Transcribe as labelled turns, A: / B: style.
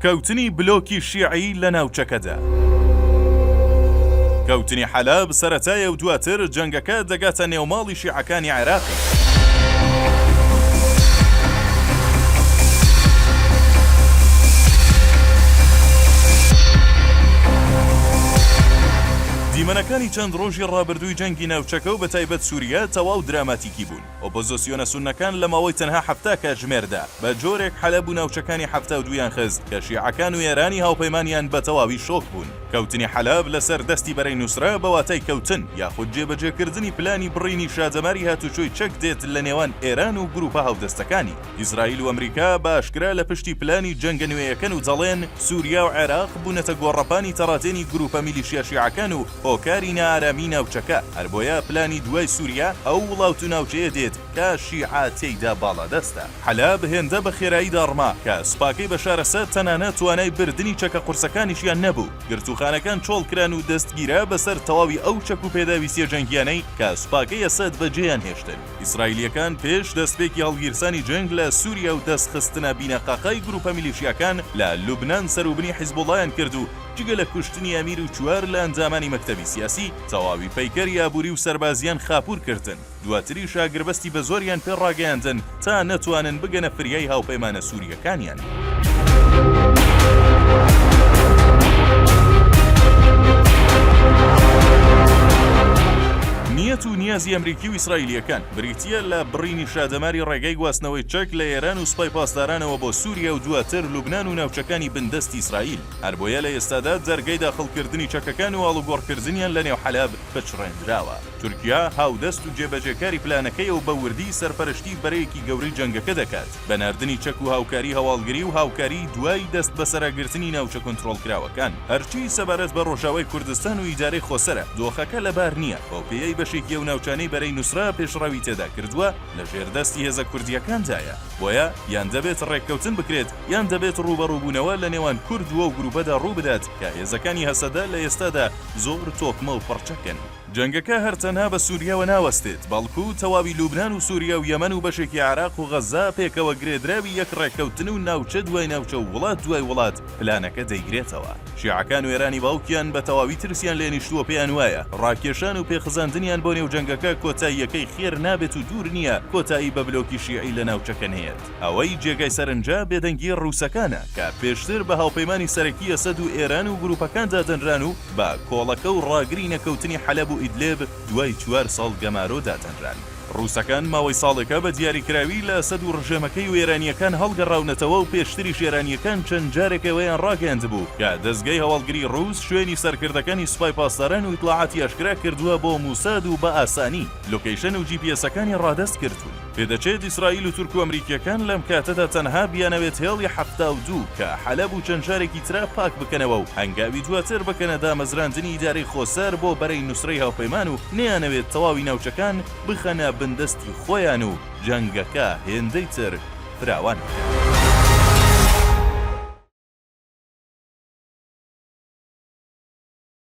A: کەوتنی بلۆکی شیعی لە ناوچەکەدا. کەوتنی حەلەب سەرەتایە و دواتر جەنگەکە دەگاتە نێو ماڵی شیعەکانی عێراقیش. دیمەنەکانی چەند ڕۆژی ڕابردووی جەنگی ناوچەکە و بەتایبەت سووریە تەواو دراماتیکی بوون. ئۆپۆزسیۆنە سوننەکان لە ماوەی تەنها حەفتا کاتژمێردا بە جۆرێک حەلەب و ناوچەکانی حەفتا و دوویان خست کە شیعەکان و ئێرانی هاوپەیمانیان بە تەواوی شۆک بوون. کەوتنی حەلەب لەسەر دەستی بەرەی نوسرە بە واتای کەوتن یاخود جێبەجێکردنی پلانی بڕینی شادەماری هاتوچۆی چەک دێت لە نێوان ئێران و گروپە هاودەستەکانی. ئیسرائیل و ئەمریکا بە ئاشکرا لە پشتی پلانی جەنگە نوێیەکەن و دەڵێن سوریا و عێراق بوونەتە گۆڕەپانی تەڕادێنی گروپە میلیشیا شیعەکان و هۆکاری نائارامی ناوچەکە، هەربۆیە پلانی دوای سوریا ئەو وڵات و ناوچەیە دێت کە شیعە تێیدا باڵادەستە. حەلەب هێندە بە خێرایی داڕما کە سوپاکەی بەشار ئەسەد تەنانەت توانای بردنی چەکە قورسەکانیشیان نەبوو، گرتووخانەکان چۆڵکران و دەستگیرا بەسەر تەواوی ئەو چەک و پێداویستیە جەنگیانەی کە سوپاکەی ئەسەد بەجێیان هێشتن. ئیسرائیلیەکان پێش دەستپێکی هەڵگیرسانی جەنگ لە سوریا و دەست خستنە بینەقاقای گروپە میلیشیاکان لە لوبنان سەروبنی حیزبوڵایان کرد و، جگە لە کوشتنی ئەمیر و چوار لە ئەندامانی مەکتەبی سیاسی، تەواوی پەیکەری ئابووری و سەربازییان خاپوور کردن، دواتریش ئاگربەستی بەزۆریان پێ ڕاگەیاندن تا نەتوانن بگەنە فریای هاوپەیمانە سوورییەکانیان. نیەت و نیازی ئەمریکی و ئیسرائیلییەکان، بریتییە لە بڕینی شادەماری ڕێگای گواستنەوەی چەک لە ئێران و سوپای پاسدارانەوە بۆ سووریا و دواتر لوبنان و ناوچەکانی بندەستی ئیسرائیل. هەربۆیە لە ئێستادا جەرگەی داخڵکردنی چەکەکان و ئاڵوگۆڕکردنیان لە نێو حەلەب پچڕێندراوە. تورکیا هاودەست و جێبەجێکاری پلانەکەیە و بە وردی سەرپەرشتیی بەرەیەکی گەورەی جەنگەکە دەکات بە ناردنی چەک و هاوکاریی هەواڵگری و هاوکاریی دوای دەستبەسەراگرتنی ناوچە کونترۆڵکراوەکان. هەرچی سەبارەت بە ڕۆژاوای کوردستان و ئیدارەی خۆسەرە، دۆخەکە لەبار نییە، بەوپێیەی بەشێکی ئەو ناوچانەی بەرەی نوسرە پێشڕەوی تێدا کردووە لە ژێردەستی هێزە کوردییەکاندایە، بۆیە یان دەبێت ڕێککەوتن بکرێت، یان دەبێت ڕووبەڕووبوونەوە لە نێوان کورد وەو گرووپەدا ڕوو بدات کە هێزەکانی هەسەدە لە ئێستادا زۆر تۆکمە و پڕچەکن. جەنگەکە هەر تەنها بە سووریاوە ناوەستێت، بەڵکو تەواوی لوبنان و سووریا و یەمەن و بەشێکی عێراق و غەززە پێکەوە گرێدراوی یەک ڕێککەوتن و ناوچە دوای ناوچە و وڵات دوای وڵات پلانەکە دەیگرێتەوە. شیعەکان و ئێرانی باوکیان بە تەواوی ترسیان لێ نیشتووە پێیان وایە ڕاکێشان و پێخزاندنیان بۆ نێو جەنگەکە کۆتاییەکەی خێر نابێت و دوور نییە کۆتایی بە بلۆکی شیعی لە ناوچەکە نەیەت. ئەوەی جێگای سەرنجە بێدەنگی ڕووسەکانە کە پێشتر بە هاوپەیمانی سەرەکی ئەسەد و ئێران و گروپەکان دادەنران و بە کۆڵەکە و ڕاگری نەکەوتنی حەلەب و ئیدلێب دوای چوار ساڵ گەمارۆ دادەنران. ڕووسەکان ماوەی ساڵێکە بە دیاریکراوی لە ئەسەد و ڕژێمەکەی و ئێرانییەکان هەڵگەڕاونەتەوە و پێشتریش ئێرانییەکان چەند جارێک ئەوەیان ڕاگەیاندبوو کە دەزگای هەواڵگری ڕووس شوێنی سەرکردەکانی سوپای پاسداران و ئیتڵاعاتی ئاشکرا کردووە بۆ موساد و بە ئاسانی لۆکەیشن و جی پی ئێسەکانی ڕادەست کردوون. پێدەچێت ئیسرائیل و تورک و ئەمریکییەکان لەم کاتەدا تەنها بیانەوێت هێڵی حەفتا و دوو کە حەلەب و چەند شارێکی ترە پاک بکەنەوە و هەنگاوی دواتر بکەنە دامەزراندنی ئیدارەی خۆسەر بۆ بەرەی نوسرەی هاوپەیمان و نەیانەوێت تەواوی ناوچەکان بخەنە بن دەستی خۆیان و جەنگەکە هێندەی تر فراوان بکەن.